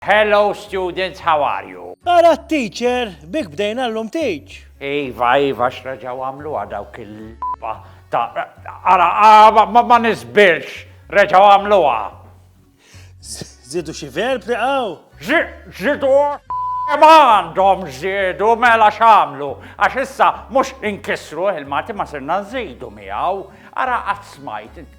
Hello students how are you? Ara t-teacher, bik bdejna llum teach. Iva, iva, x'reġgħu għamluha dawk il-lba ta' ara ah, ma nisbirx, reġgħu għamluha. Zidu xi verb li qaw? Zidu ma għandhom żiedu mela x'għamlu, għax issa mhux inkisru il-Malti ma sirna nżidu miegħu. Ara qatt smajt